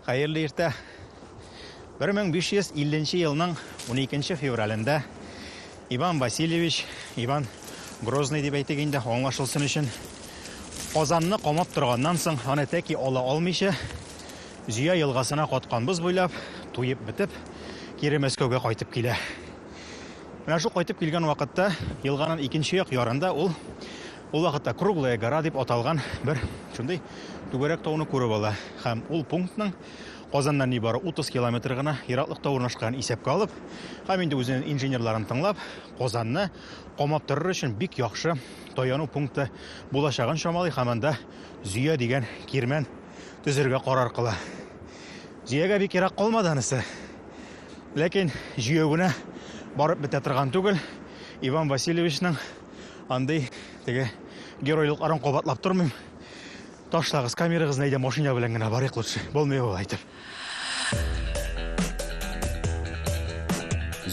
Хәерле иртә. 1550 елның 12 февралендә Иван Васильевич, Иван Грозный дип әйтик инде, аңлашылсын өчен, Казанны камап торганнан соң, аны тәки ала алмыйча, Зөя елгасына каткан боз буйлап, туеп бетеп, кире Мәскәүгә кайтып килә. Менә шул кайтып килгән вакытта елганын икенче як ярында ул ул вакытта Круглая гора дип аталган бер шундый түгәрәк тауны күреп ала. Һәм ул пунктның Казаннан нибары 30 километр гына ераклыкта урнашкан исәпкә алып, һәм инде үзенең инженерларын тыңлап, Казанны камап торыр өчен бик яхшы таяну пункты булачагын чамалый һәм анда Зөя дигән кирмән төзергә карар кыла. Җөягә бик ерак калмады анысы. Ләкин җөяү генә барып бетә торган түгел. Иван Васильевичның андый теге геройлыкларын кабатлап тормыйм. Ташлагыз камерагызны әйдә машина белән генә барыйк лучше. Булмый ул әйтеп.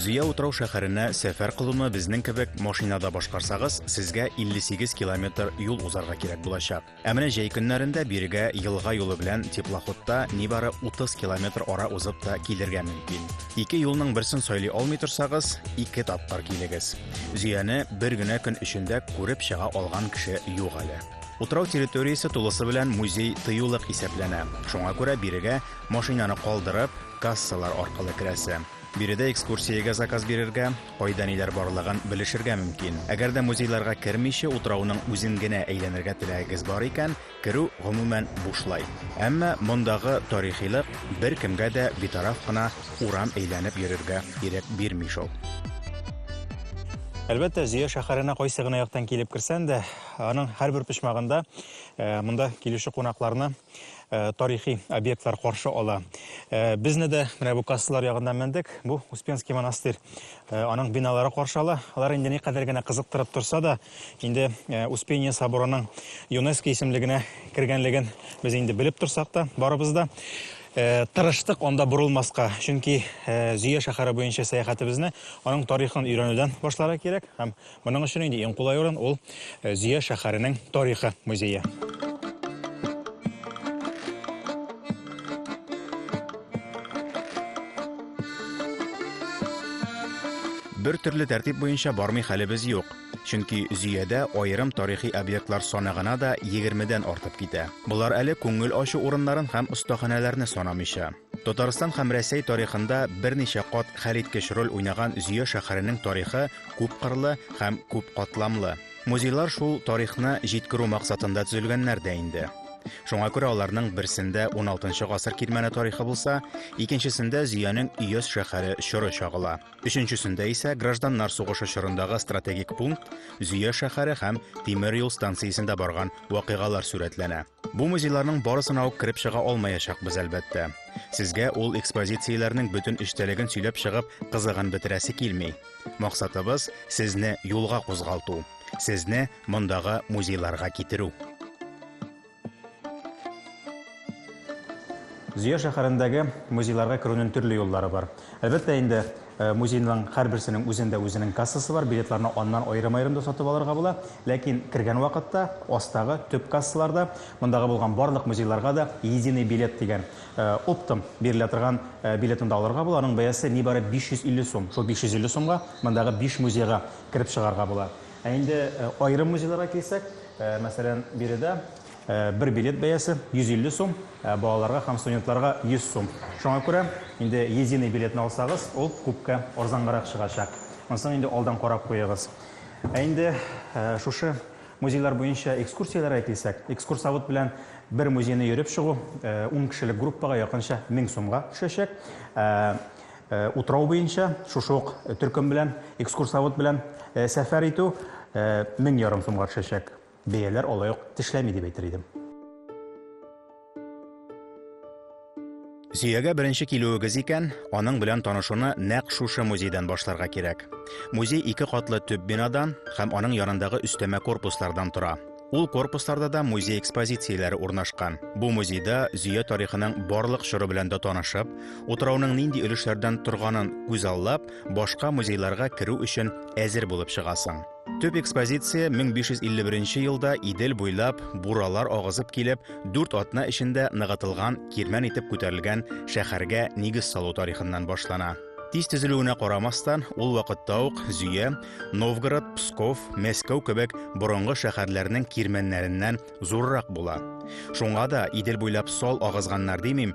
Зөя утрау шәһәренә сәфәр кылуны безнең кебек машинада башкарсагыз, сезгә 58 километр юл узарга кирәк булачак. Ә менә җәй көннәрендә бирегә елга юлы белән теплоходта нибары 30 километр ара узып та килергә мөмкин. Ике юлның берсен сайлый алмый торсагыз, ике тапкыр килегез. Зөяне бер генә көн эчендә күреп чыга алган кеше юк әле. Утрау территориясе тулысы белән музей тыюлык исәпләнә, шуңа күрә бирегә машинаны калдырып, кассалар аркылы керәсе. Биредә экскурсиягә заказ бирергә, Кайда ниләр барлыгын белешергә мөмкин. Әгәр дә музейларга кермичә утрауның үзен генә әйләнергә теләгегез бар икән, керү гомумән бушлай. Әмма мондагы тарихилык беркемгә дә битараф кына урам әйләнеп йөрергә ирек бирми шул. Әлбәттә, Зөя шәһәренә кайсы гына яктан килеп керсән дә, аның һәрбер почмагында монда килүче кунакларны Э, тарихи объектлар каршы ала. Э, безне дә менә бу кассалар ягына мендек. Бу Успенский монастырь. Э, аның биналары каршы ала. Алар инде ни кадәр генә кызыктырып торса да, инде Успение соборының ЮНЕСКО исемлегенә кергәнлеген без инде белеп торсак та, барыбыз да Э, тырыштык анда борылмаска, чөнки э, Зөя шәһәре буенча сәяхәтебезне аның тарихын өйрәнүдән башларга кирәк һәм Моның өчен инде иң кулай урын ул э, Зөя шәһәренең тарихы музее. Бер төрле тәртип буенча бармый хәлебез юк. Чөнки Зөядә аерым тарихи объектлар саны гына да 20 дән артып китә. Болар әле күңел ачу урыннарын һәм остаханәләрне санамыйча. Татарстан һәм Рәсәй тарихында берничә кат хәлиткеч роль уйнаган Зөя шәһәренең тарихы күпкырлы һәм күп катламлы. Музейлар шул тарихны җиткерү максатында төзелгәннәр дә инде. Шуңа күрә аларның берсендә уналтынчы гасыр кирмәне тарихы булса, икенчесендә Зөянең Өяз шәһәре чоры чагыла. Өченчесендә исә гражданнар сугышы чорындагы стратегик пункт, Зөя шәһәре һәм тимер юл станциясендә барган вакыйгалар сурәтләнә. Бу музейларның барысына ук кереп чыга алмаячакбыз, әлбәттә. Сезгә ул экспозицияләрнең бөтен эчтәлеген сөйләп чыгып, кызыгын бетерәсе килми. Максатыбыз, сезне юлга кузгалту, сезне мондагы музейларга китерү. Зөя шәһәрендәге музейларга керүнең төрле юллары бар. Әлбәттә инде, Музейның һәрберсенең үзендә үзенең кассасы бар, билетларны аннан аерым-аерым да сатып алырга була. Ләкин кергән вакытта астагы төп кассаларда мондагы булган барлык музейларга да Единый билет дигән, оптом бирелә торган билетны да алырга була. Аның бәясе нибары 550 сум. Шул 550 сумга мондагы биш музейга кереп чыгарга була. Ә инде аерым музейларга килсәк, мәсәлән, биредә Бер билет бәясе 150 сум, ә балаларга һәм студентларга 100 сум. Шуңа күрә инде единый билетны алсагыз, ул күпкә арзангарак чыгачак. Монысын инде алдан карап куегыз. Ә инде шушы музейлар буенча экскурсияләргә килсәк, экскурсовод белән бер музейны йөреп чыгу 10 кешелек группага якынча 1000 сумга төшәчәк. Утрау буенча шушы ук төркем белән, экскурсовод белән сәфәр итү мең ярым сумга төшәчәк. Бәяләр алай ук тешләми дип әйтер идем. Зөягә беренче килүегез икән, аның белән танышуны нәкъ шушы музейдан башларга кирәк. Музей ике катлы төп бинадан һәм аның янындагы өстәмә корпуслардан тора. Ул корпусларда да музей экспозицияләре урнашкан. Бу музейда Зөя тарихының барлык чоры белән дә танышып, утрауның нинди өлешләрдән торганын күзаллап, башка музейларга керү өчен әзер булып чыгасың. Төп экспозиция 1551 елда Идел буйлап буралар агызып килеп, дүрт атна эчендә ныгытылган кирмән итеп күтәрелгән шәһәргә нигез салу тарихыннан башлана. Тиз төзелүенә карамастан, ул вакытта ук Зөя, Новгород, Псков, Мәскәү кебек борынгы шәһәрләрнең кирмәннәреннән зуррак була. Шуңа да Идел буйлап сал агызганнар димим,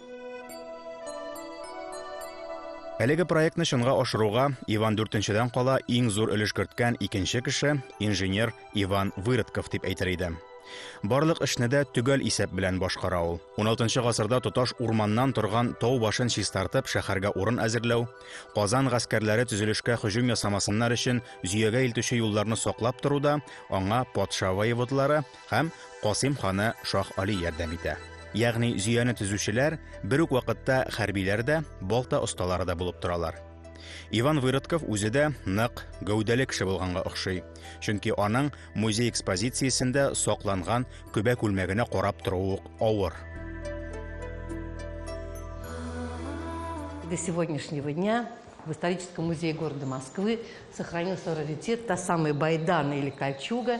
Әлеге проектны чынга ашыруга Иван дүртенчедән кала иң зур өлеш керткән икенче кеше инженер Иван Выродков дип әйтер идем. Барлык эшне дә төгәл исәп белән башкара ул. 16 гасырда тоташ урманнан торган тау башын чистартып шәһәргә урын әзерләү, Казан гаскәрләре төзелешкә һөҗүм ясамасыннар өчен зөягә илтүче юлларны саклап торуда аңа патша воеводлары Һәм Касыйм ханы Шаһ Али ярдәм итә. Ягъни Зөяне төзүчеләр бер үк вакытта хәрбиләр дә, балта осталары да булып торалар. Иван Выродков үзе дә нык, гәүдәле кеше булганга охшый. Чөнки аның музей экспозициясендә сакланган көбә күлмәгенә карап торуы ук авыр. До сегодняшнего дня в историческом музее города Москвы сохранился раритет та самая байдана или кольчуга,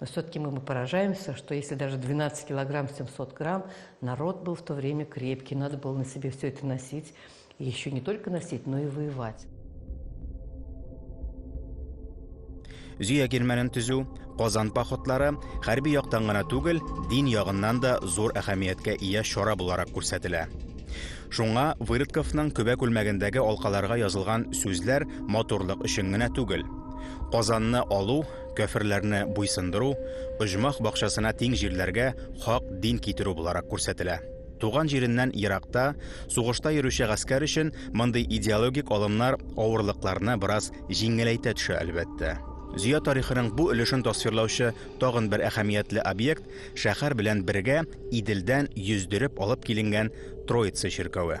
Но все-таки мы поражаемся, что если даже 12 килограмм 700 грамм, народ был в то время крепкий, надо было на себе все это носить, и еще не только носить, но и воевать. Зөя германын түзү, Казан походлары хәрби яктан гына түгел, дин ягыннан да зур әһәмияткә ия чара буларак күрсәтелә. Шуңа Вырытковның көбә күлмәгендәге алкаларга язылган сүзләр матурлык өчен генә түгел. Казанны алу кяферләрне буйсындыру, оҗмах бакчасына тиң җирләргә хак дин китерү буларак күрсәтелә. Туган җиреннән еракта, сугышта йөрүче гаскәр өчен мондый идеологик алымнар авырлыкларны бераз җиңеләйтә төшә, әлбәттә. Зөя тарихының бу өлешен тасвирлаучы тагын бер әһәмиятле объект, шәһәр белән бергә Иделдән йөздереп алып киленгән Троица чиркәве.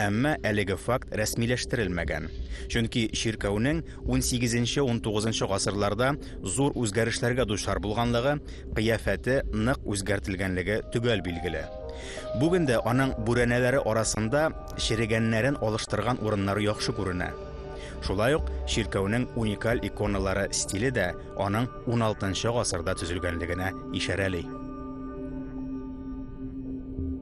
Әмма әлеге факт рәсмиләштерелмәгән. Чөнки чиркәүнең унсигезенче-унтугызынчы гасырларда зур үзгәрешләргә дучар булганлыгы, кыяфәте нык үзгәртелгәнлеге төгәл билгеле. Бүген дә аның бүрәнәләре арасында черегәннәрен алыштырган урыннары яхшы күренә. Шулай ук чиркәүнең уникаль иконалары стиле дә аның уналтынчы гасырда төзелгәнлегенә ишарәли.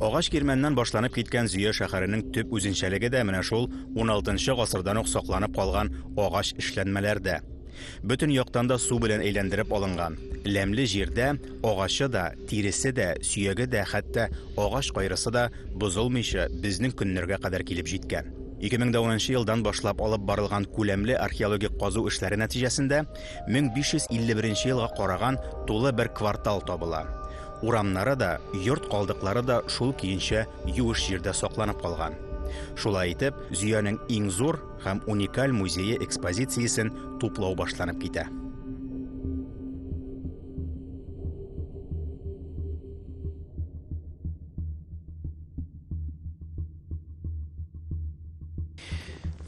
Агач кирмәннән башланып киткән Зөя шәһәренең төп үзенчәлеге дә менә шул 16 гасырдан ук сакланып калган агач эшләнмәләрдә. Бөтен яктан да су белән әйләндереп алынган. Ләмле җирдә агачы да, тиресе дә, сөяге дә, хәтта агач кайрысы да бозылмыйча безнең көннәргә кадәр килеп җиткән. 2010 елдан башлап алып барылган күләмле археологик казу эшләре нәтиҗәсендә 1551 елга караган тулы бер квартал табыла. Урамнары да, йорт калдыклары да шул көенчә юеш җирдә сакланып калган. Шулай итеп, Зөянең иң зур һәм уникаль музее экспозициясен туплау башланып китә.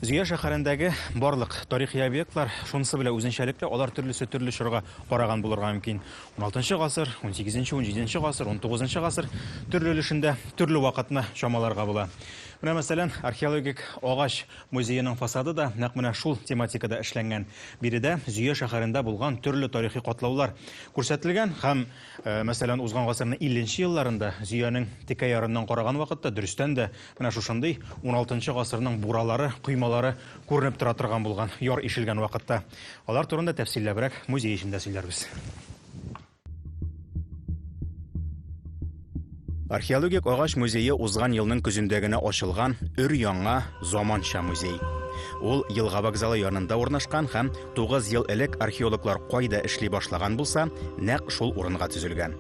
Зөя шәһәрендәге барлык тарихи объектлар шунысы белән үзенчәлекле, алар төрлесе төрле чорга караган булырга мөмкин. 16 гасыр, 18-нче, 17-нче гасыр, 19-нчы гасыр төрле өлешендә төрле вакытны чамаларга була. Менә мәсәлән, археологик агач музееның фасады да нәкъ менә шул тематикада эшләнгән. Биредә Зөя шәһәрендә булган төрле тарихи катлаулар күрсәтелгән һәм, мәсәлән, узган гасырның 50 нче елларында Зөянең текә ярыннан караган вакытта дөрестән дә Менә шушындый уналтынчы гасырның буралары, коймалары күренеп тора торган булган яр ишелгән вакытта. Алар турында тәфсилләбрәк музей эчендә сөйләрбез. Археологик агач музее узган елның көзендә генә ачылган өр-яңа заманча музей. Ул елга вокзалы янында урнашкан һәм 9 ел элек археологлар кайда эшли башлаган булса, нәкъ шул урынга төзелгән.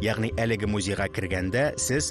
Ягъни әлеге музейга кергәндә сез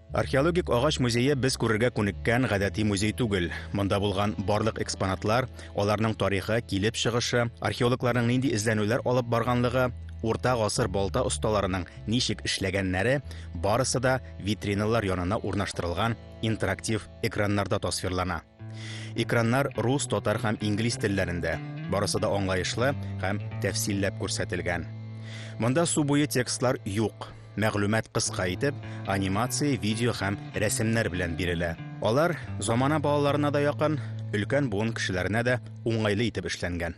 Археологик агач музее без күрергә күнеккән гадәти музей түгел. Монда булган барлык экспонатлар, аларның тарихы, килеп чыгышы, археологларның нинди эзләнүләр алып барганлыгы, урта гасыр балта осталарының ничек эшләгәннәре, барысы да витриналар янына урнаштырылган интерактив экраннарда тасвирлана. Экраннар рус, татар һәм инглиз телләрендә. Барысы да аңлаешлы һәм тәфсилләп күрсәтелгән. Монда су буе текстлар юк. Мәгълүмат кыска итеп, анимация, видео һәм рәсемнәр белән бирелә. Алар замана балаларына да якын, өлкән буын кешеләренә дә уңайлы итеп эшләнгән.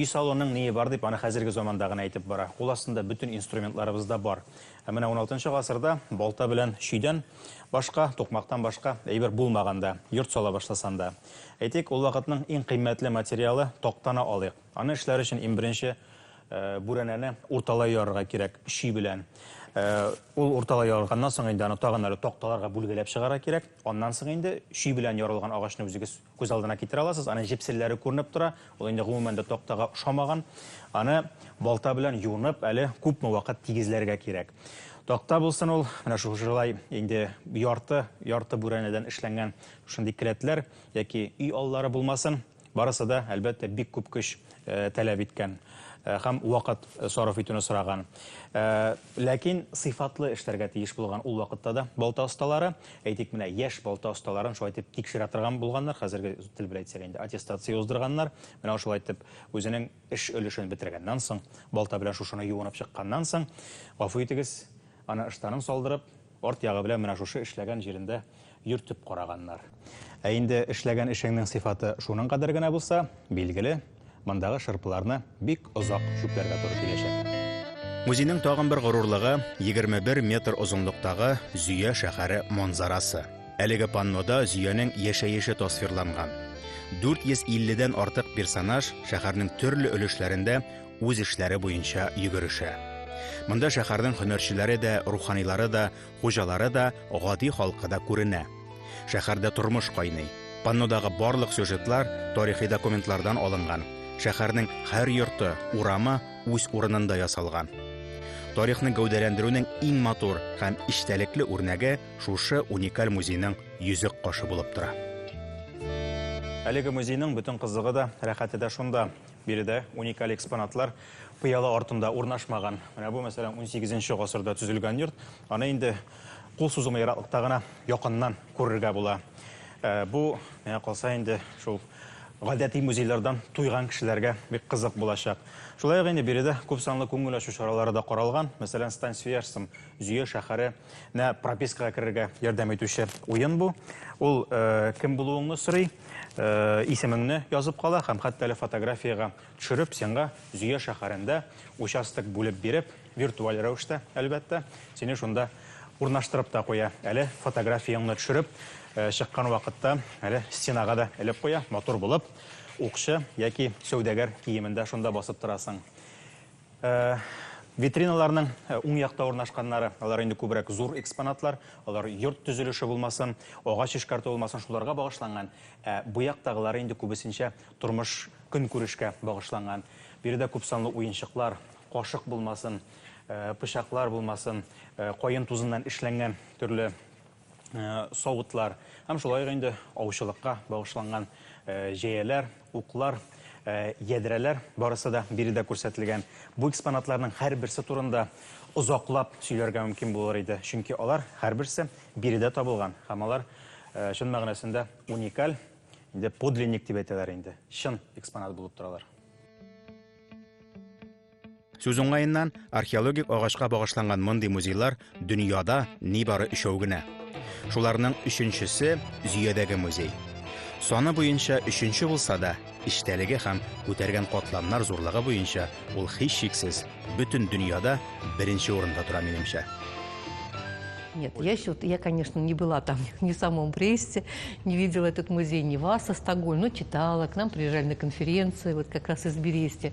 Өй салонның ние бар дип, аны хәзерге заманда гына әйтеп бара. Кул астында бөтен инструментларыбыз да бар. Ә менә 16 гасырда балта белән чөйдән башка, тукмактан башка әйбер булмаганда, йорт сала башласанда. Әйтик, ул вакытның иң кыйммәтле материалы тактаны алыйк. Аны эшләр өчен иң беренче Бүрәнәне урталай ярырга кирәк, чи белән. Ул урталай ярылганнан соң инде аны тагын әле такталарга бүлгәләп чыгарга кирәк. Аннан соң инде чи белән ярылган агачны үзегез күз алдына китерә аласыз. Аның җепселләре күренеп тора. Ул инде гомумән дә тактага ошамаган. Аны балта белән юынып, әле күпме вакыт тигезләргә кирәк. Такта булсын ул, менә шушылай инде ярты, ярты бүрәнәдән эшләнгән шундый келәтләр яки өй аллары булмасын. Барысы да, әлбәттә, бик күп көч таләп иткән һәм вакыт сарыф итүне сораган. Ләкин сыйфатлы эшләргә тиеш булган ул вакытта да балта осталары, әйтик, менә яшь балта осталарын шулай итеп тикшерә торган булганнар, хәзерге тел белән әйтсәк инде, аттестация уздырганнар. Менә шулай итеп, үзенең эш өлешен бетергәннән соң, балта белән шушыны юынып чыкканнан соң, гафу итегез, аны ыштанын салдырып, Арт ягы белән менә шушы эшләгән җирендә йөртеп караганнар. Ә инде эшләгән эшеңнең сыйфаты шуның кадәр генә булса, билгеле, мондагы шырпыларны бик озак чүпләргә туры киләчәк. Музейның тагын бер горурлыгы, 21 метр озынлыктагы Зөя шәһәре манзарасы. Әлеге паннода Зөянең яшәеше тасвирланган. 450 дән артык персонаж шәһәрнең төрле өлешләрендә үз эшләре буенча йөгерешә. Монда шәһәрнең һөнәрчеләре дә, руханилары да, хуҗалары да, гади халкы да күренә. Шәһәрдә тормыш кайный. Паннодагы барлык сюжетлар тарихи документлардан алынган. Шәһәрнең һәр йорты, урамы үз урынында ясалган. Тарихны гәүдәләндерүнең иң матур һәм эчтәлекле үрнәге шушы уникаль музейның йөзек кашы булып тора. Әлеге музейның бөтен кызыгы да, рәхәте дә шунда. Биредә уникаль экспонатлар пыяла артында урнашмаган. Менә бу, мәсәлән, 18 гасырда төзелгән йорт. Аны инде кул сузымы ераклыкта гына якыннан күрергә була. Э, бу, миңа калса инде, шул гадәти музейлардан туйган кешеләргә бик кызык булачак. Шулай ук инде биредә күп санлы күңел ачу чаралары да каралган. Мәсәлән, Стань свияжцем, Зөя шәһәре Менә пропискага керергә ярдәм итүче уен бу. Ул э, кем булуыңны сорый, э, исемеңне язып кала һәм хәтта әле фотографиягә төшереп, сиңа Зөя шәһәрендә участок бүлеп биреп, виртуаль рәвештә, әлбәттә, сине шунда урнаштырып та куя. Әле фотографияңны төшереп, э, чыккан вакытта әле стенага да элеп куя, матур булып, укчы яки сәүдәгәр киемендә шунда басып торасың. Витриналарның уң якта урнашканнары, алар инде күбрәк зур экспонатлар, алар йорт төзелеше булмасын, агач эшкәртү булмасын, шуларга багышланган. Ә бу яктагылары инде күбесенчә тормыш, көнкүрешкә багышланган. Биредә күпсанлы уенчыклар, кашык булмасын, пычаклар булмасын, каен тузыннан эшләнгән төрле Э, савытлар һәм шулай ук инде аучылыкка багышланган э, җәяләр, уклар, э, ядрәләр барысы да биредә күрсәтелгән. Бу экспонатларның һәрберсе турында озаклап сөйләргә мөмкин булыр иде, чөнки алар һәрберсе биредә табылган һәм алар чын мәгънәсендә уникаль, инде подлинник дип әйтәләр инде, чын экспонат булып торалар. Сүз уңаеннан, археологик агачка багышланган мондый музейлар дөньяда нибары өчәү генә. Шуларның өченчесе Зөядәге музей. Саны буенча өченче булса да, эчтәлеге һәм күтәргән катламнар зурлыгы буенча ул һичшиксез бөтен дөньяда беренче урында тора минемчә. Нет, я еще, вот, я, конечно, не была там ни в самом Бресте, не видела этот музей ни Варса, Стокгольм, но читала, к нам приезжали на конференции, вот как раз из Берести.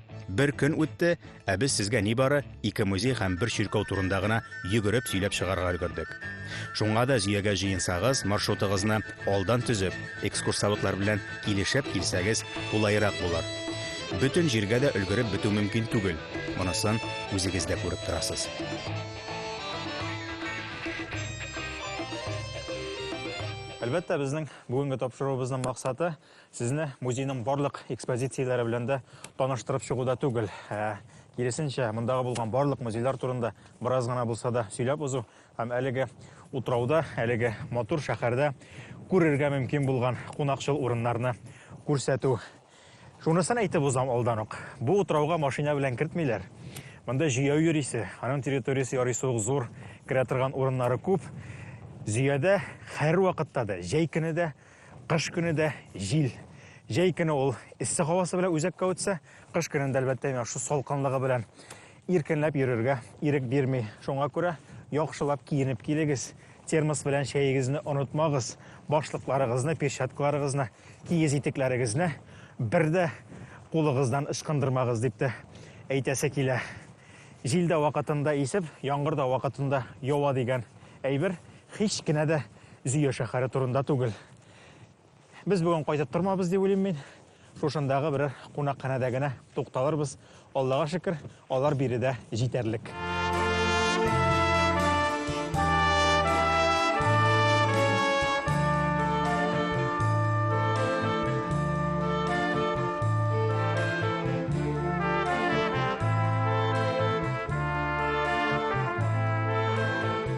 Бер көн үтте, ә без сезгә нибары ике музей һәм бер чиркәү турында гына йөгереп сөйләп чыгарга өлгердек. Шуңа да җөягә җыенсагыз, маршрутыгызны алдан төзеп, экскурсоводлар белән килешеп килсәгез, кулайрак булыр. Бөтен җиргә дә өлгереп бетү мөмкин түгел. Монысын үзегез дә күреп торасыз. Әлбәттә, безнең бүгенге тапшыруыбызның максаты – Сезне музейның барлык экспозицияләре белән дә таныштырып чыгу да түгел. Ә, киресенчә, мондагы булган барлык музейлар турында бераз гына булса да сөйләп узу һәм әлеге утрауда, әлеге матур шәһәрдә күрергә мөмкин булган кунакчыл урыннарны күрсәтү. Шунысын әйтеп узам алдан ук. Бу утрауга машина белән кертмиләр. Монда җәяү йөрисе, аның территориясе ярыйсы ук зур, керә торган урыннары күп. Зөядә һәр вакытта да, җәй көне дә Кыш көне дә җил. Җәй көне ул эссе һавасы белән үзәккә үтсә, кыш көнендә, әлбәттә, менә шул салкынлыгы белән иркенләп йөрергә ирек бирми. Шуңа күрә яхшылап киенеп килегез. Термос белән чәегезне онытмагыз. Башлыкларыгызны, перчаткаларыгызны, киез итекләрегезне бер дә кулыгыздан ычкындырмагыз, дип тә әйтәсе килә. Җил дә вакытында исеп, яңгыр да вакытында ява дигән әйбер Һич кенә дә Зөя шәһәре турында түгел. Без бүген кайтып тормабыз дип уйлыйм мин. Шушындагы берәр кунакханәдә генә тукталырбыз. Аллага шөкер, алар биредә җитәрлек.